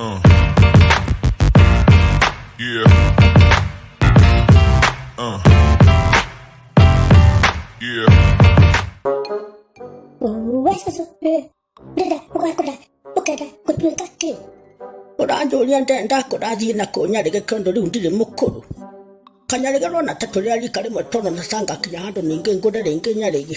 Uh. Yeah. Uh. Yeah. ũranjũria ndene ndakũrathiĩ na kũnyarĩge kĩondo rĩu ndirĩ mũkũrũ kanyarĩge rona ta tũrĩa rika rĩmwe tondũ na canga kinya handũ ningĩ ngũre rĩngĩ nyarĩge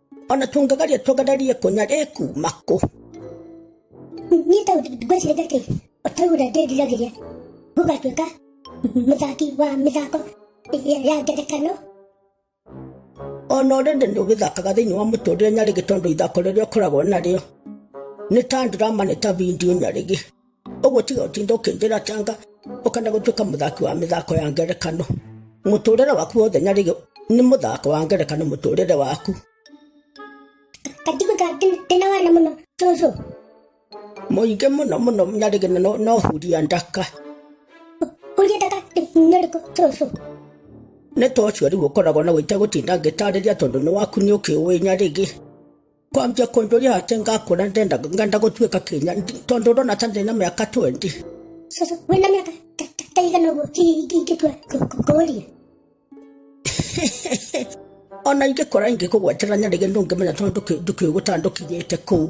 o na tũngĩgeria tũgererie kũnya rĩkuuma kũ niĩ ta ngwĩciria atĩ ũtaura ndĩriragĩria gũgatuĩka mũthaki wa mĩthako ya ya ngerekano o na ũrĩndĩ nĩ ũgĩthakaga thĩinĩ wa mũtũrĩre nyarĩgĩ tondũ ithako rĩrĩa ũkoragwo narĩo nĩ ta ndirama nĩ ta bindio nyarĩgĩ ũguo tiga ũtinda ũkĩnjĩra tanga ũkenda gũtuĩka mũthaki wa mĩthako ya ngerekano mũtũrĩre waku wothe nyarĩgĩ nĩ mũthako wa ngerekano mũtũrĩre waku kanjiguta ndĩna wana mũno cũcũ mũingĩ mũno mũno nyarĩgĩ na no- no huria ndaka huria ndaka nyarĩkũ cũcũ nĩ ta ũcio rĩu ũkoragwo na wĩte gũtinda ngĩtarĩria tondũ nĩ waku nĩ ũkĩũĩ nyarĩgĩ kwambia kuondoria ate ngakura ndenda ngenda gutuika kinya tondu ndona ta ndina miaka 20 Sasa wena miaka ta- ta- taigana ũguo ki- ki- ingĩtua kũ- kũ- kũũria ona ingikora ingikugwetera nyarige ndungimenya tondu ndukiuguta ndukinyite kuu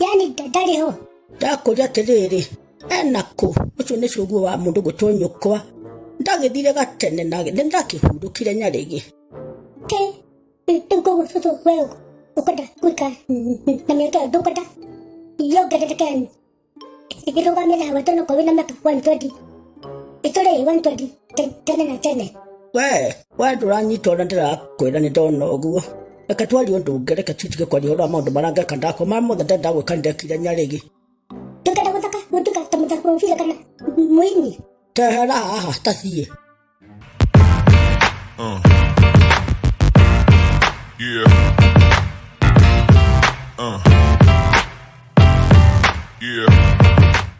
yani ndarĩ ho ndakũria atĩrĩrĩ ena kũ ũcio nĩ cuguo wa mũndũ gwĩtwo nyũkwa ndagĩthire gatene na nĩ ndakĩhurũkire nyarĩgĩ ke rĩu koguo cũcũ we ũkwenda gwĩka na mĩaka ĩyo ndũkwenda yongerereke ĩrũgamĩra hawa tondũ korwo wĩna mĩaka 120 ĩtũrĩ 120 Te- tene na tene we we nduranyita ũrĩa ndĩrakwĩra nĩ ndona ũguo reke twarie ũndũ ũngĩ reke tutige kwaria ũhoro wa maũndũ marĩa ngeka ndakwa marĩa mothe ndenda gwĩka ndekire nyarĩgi tũkenda gũthaka gũtuka ta mũthako wa obila kana mũini tehera haha tathiĩ Uh. Yeah. Uh. Yeah.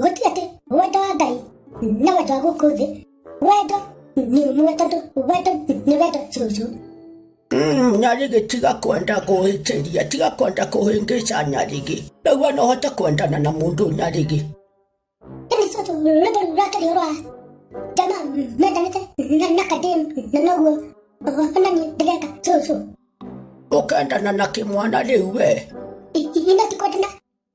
gũtirĩ atĩ wendo wa ngai na wendo wa gũkũ thĩ wendo nĩ ũmwe tondũ wendo nĩ wendo cucu Mm, nyarigi tiga kwenda kũhĩtĩria tiga kwenda kũhĩngĩca nyarigi nĩguo no hote kwendana na mũndũ nyarigi ĩni cucu rwĩmbo rũu rwakĩrĩ rwa jama mendanĩte na- na kadem na noguo ona niĩ ndĩreka cucu ũkendana na kĩmwana rĩu we I- i- ino ti kwendana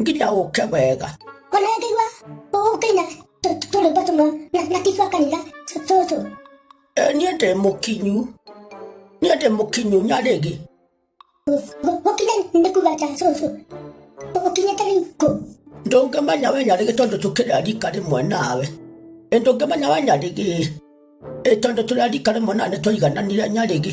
nginya ũke wega ona ngĩigua ũkĩina tũrĩmbo tũmwe na tigua kanitha tũtũ niĩ ndĩ mũkinyu niĩ ndĩ mũkinyu nyarĩgi gũkinya nĩ kuga ta cũcũ ũkinyĩte rĩu kũ ndũngĩmenya we nyarĩgĩ tondũ tũkĩrĩa rika rĩmwe nawe ĩ ndũngĩmenya we nyarĩgĩ ĩ tondũ tũrĩa rika rĩmwe nawe nĩ tũigananire nyarĩgĩ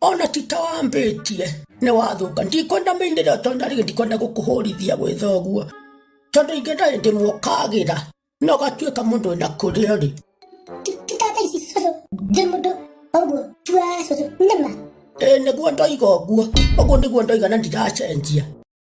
ona tita wambĩtie nĩ wathũka ndikwenda mĩinĩre tonda rĩngĩ ndikwenda gũkũhũrithia gwĩtha ũguo tondũ ingĩ ndarĩ ndĩmũkagĩra na ũgatuĩka mũndũ wĩna kũrĩa rĩ tata ici cũcũ ndĩ mũndũ ũguo tua cũcũ nĩma ĩĩ nĩguo ndoiga ũguo ũguo nĩguo ndoiga na ndiracenjia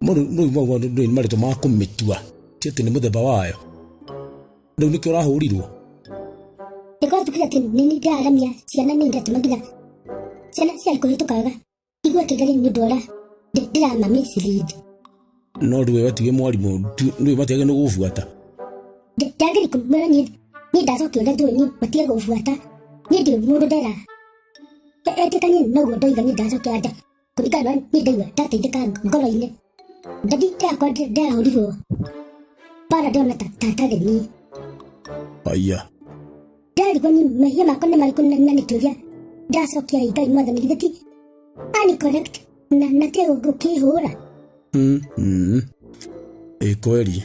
no rĩu rĩu maguo ndũrĩ nĩ marĩtwa ma kũmĩtua ti atĩ nĩ mũthemba wayo rĩu nĩkĩo ũrahũrirwo Nĩkorwo tukiga atĩ nĩ nĩ ndĩraramia ciana nĩ ndatũma nginya ciana ciarĩ kũhĩtũkaga igua kĩngari nĩ ũndũ ũrĩa ndĩ- ndĩrama mislead no rĩu we watiwe mwarimũ tu- rĩu matiage nĩ gũbuata Ndĩ- ndageri kũmwĩra niĩ niĩ ndacokia ũrĩa njũĩ niĩ matige gũbuata niĩ ndirĩ mũndũ ndera etĩkanie noguo ndoiga niĩ ndacokia anja kũringana na niĩ ndaigua ndateithĩka ngoro-inĩ ndadi ndakwa ndĩrahũrirwo bara ndĩrona ta ta tarĩ niĩ haya ndarigwo nĩ mehia makwa nĩ marĩkũ na na nĩkĩũria ndacokia rĩ ngai mwathani githĩ ti ani correct na na kĩhũra Mm, mm. ĩ kweli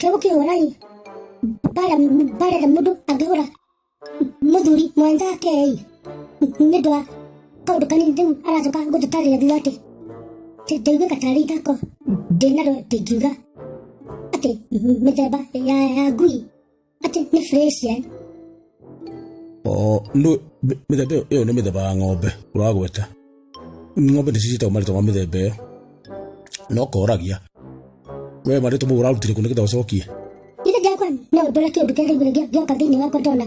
Kĩu kĩhũrai bara bara na mũndũ angĩhũra mũthuri mwenzake ĩ nĩ ũndũ wa kaũndũ kanini rĩu aracoka gũtũtarĩria thutha atĩ atĩ ndaiguĩka tarĩ ithako ndĩnaro ndĩngiuga atĩ mĩthemba ya ya ngui atĩ nĩ Fresian o ndu mithemba ĩyo- ĩyo nĩ mĩthemba ya ng'ombe ũragweta ng'ombe nĩ cicitagwo marĩtwa ma mĩthemba ĩyo na ũkoragia we marĩtwa mau ũrarutire kũ nĩgetha ũcokie Ile dia kwa na dola ke bi kare bi dia dia ka dini wa ko dola.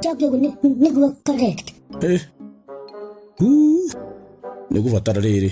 Dia ke ne ne go correct. Eh. Huu. nĩ gũbatara rĩrĩ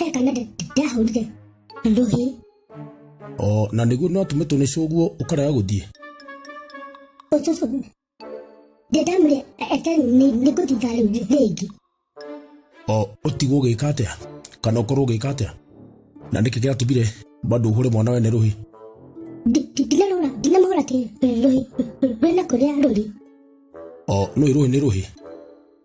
Kale kana ndahũrire rũhĩ. O na nĩguo no tũme tũnĩcũ ũguo ũkarega gũthiĩ. Ũcũcũ. Ndĩndamũrĩa ete nĩ ngũthitha rĩu rĩngĩ. O ũtigwo ũgĩka atĩa? Kana ũkorwo ũgĩka atĩa? Na nĩkĩ gĩatũmire bado ũhũre mwana wene rũhĩ? Ndinamũhũra ndinamũhũra atĩ rũhĩ rwĩna kũrĩa rũrĩ. O nũĩ rũhĩ nĩ rũhĩ.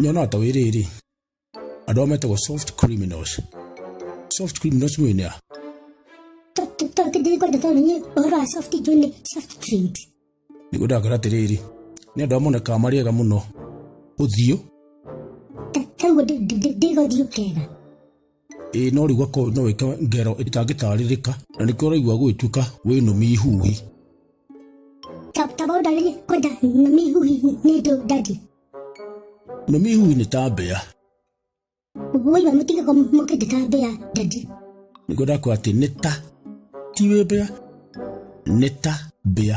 nyonaga ta wĩ rĩrĩ andũ ao metagwo soft criminals soft criminals nĩ nĩa nĩguo ndakera atĩrĩrĩ nĩ andũ amonekaga marĩ ega mũno ũthiũ Ĩĩ no rĩu gakorwo no wĩke ngero ĩtangĩtarĩrĩka na nĩkĩo ũraigua gũgĩtuĩka wĩ nũmi ihuhi. Ta ta bauda ni kwenda na mihuhi ni do daddy. Nũmi ihuhi nĩ ta mbĩa. Woi wa mutige kwa mukende ta bea daddy. Nĩkĩo ndakwĩra atĩ nĩ ta ti wĩ mbĩa nĩ ta mbĩa.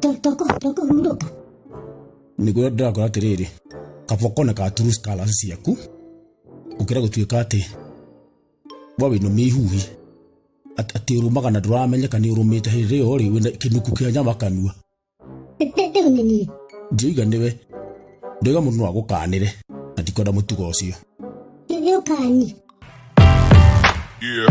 tũkũhurũka nĩguo ndĩrakora atĩrĩrĩ kaba ũkone ka true scholars ciaku ũkĩra gũtuĩka atĩ we wĩna mĩihuhi At- atĩ ũrũmaga na ndũramenyeka nĩ ũrũmĩte hĩndĩ ĩyo rĩ wĩna kĩnuku kĩa nyama kanua rĩu nĩ niĩ ndirauga nĩwe ndauga mũndũ no agũkanĩre na ndikwenda mũtugo ũcio nĩ ũkani Yeah.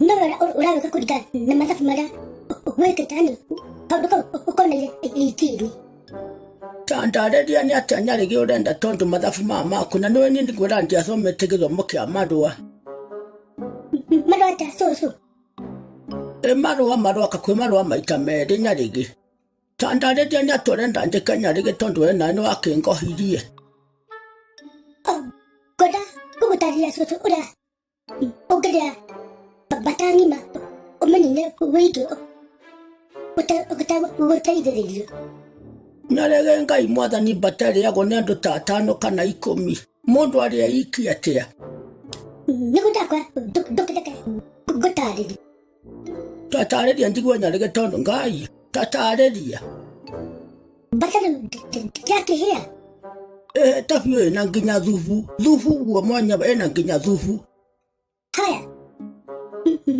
namara urabe kakurya namasafu mara weke tani kabuka ukomeye ikiri tandarĩria nĩ atĩa nyarĩgĩ ũrenda tondũ mathabu maya maku na nĩwe niĩ nĩguo randia athomete gĩthomo kĩa marũa marũa ta cũcũ ĩ marũa maroka kwĩ marũa maita merĩ nyarĩgĩ tandarĩria nĩ atĩa ũrenda njĩke nyarĩgĩ tondũ we nawe nĩ wakĩngohirie ngoda gũgũtarĩria cũcũ ũrĩa Ongerera batani ma ũmenyine wĩitũ gũteithĩrĩrio. Na rege Ngai mwathani mbatarĩagwo nĩ andũ ta atano kana ikũmi. Mũndũ arĩa iki atĩa? Nĩ gũtakwa ndũkĩreke ngũtarĩrie. Tatarĩria njigua nyarĩge tondũ ngai. Tatarĩria. Mbatara ndakĩhĩa. Eh, tabiũ ĩna nginya thubu. Thubu guo mwanya ĩna nginya thubu. Haya.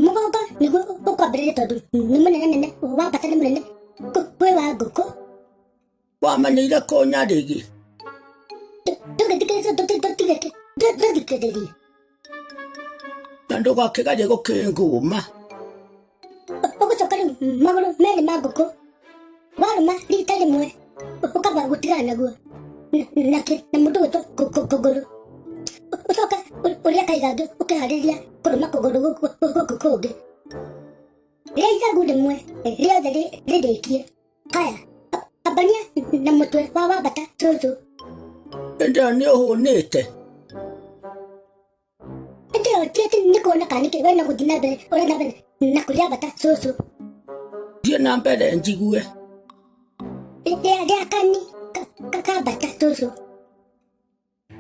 Mũgongo nĩguo ũkwambĩrĩria tondũ nĩ mũnene nene. Wambata nĩ mũnene. Kwĩ wa ngũkũ. wamenyeire kũnyarĩgi ndũgĩthikĩrĩria na ndũgakĩgerie gũkĩngũma ũgũcoka rĩu magũrũ merĩ ma ngũkũ warũma rita rĩmwe ũkamba gũtigana naguo na kĩ na mũndũ gwĩtwo kũgũrũ ũcoka ũrĩa kaigangĩ ũkĩharĩria kũrũma kũgũrũ gũkũ kũngĩ rĩa ithagu rĩmwe rĩothe rĩrĩkie Kaya, abania na mũtwe wa wambata cũcũ. Ĩndĩ nĩ ũhũnĩte. Ĩndĩ ũtiĩte nĩ kuona kana nĩkĩ wena gũthiĩ na mbere ũrĩ na mbere na kũrĩa bata cũcũ. Thiĩ na mbere njigue. Ĩndĩ arĩa kani kakambata cũcũ.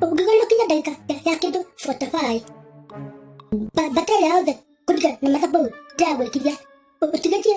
Ũngĩgona kinya ndagĩka ya kĩndũ botabaĩ. Bata ĩrĩa yothe kũringana na mathabu ndĩragwĩkithia. Ũtigĩtie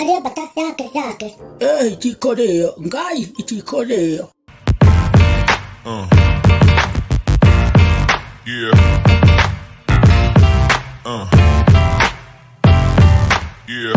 Arĩa mbata yake yake. Ĩĩ itikũrĩo, Ngai itikũrĩo. Uh. Yeah. Uh. Yeah.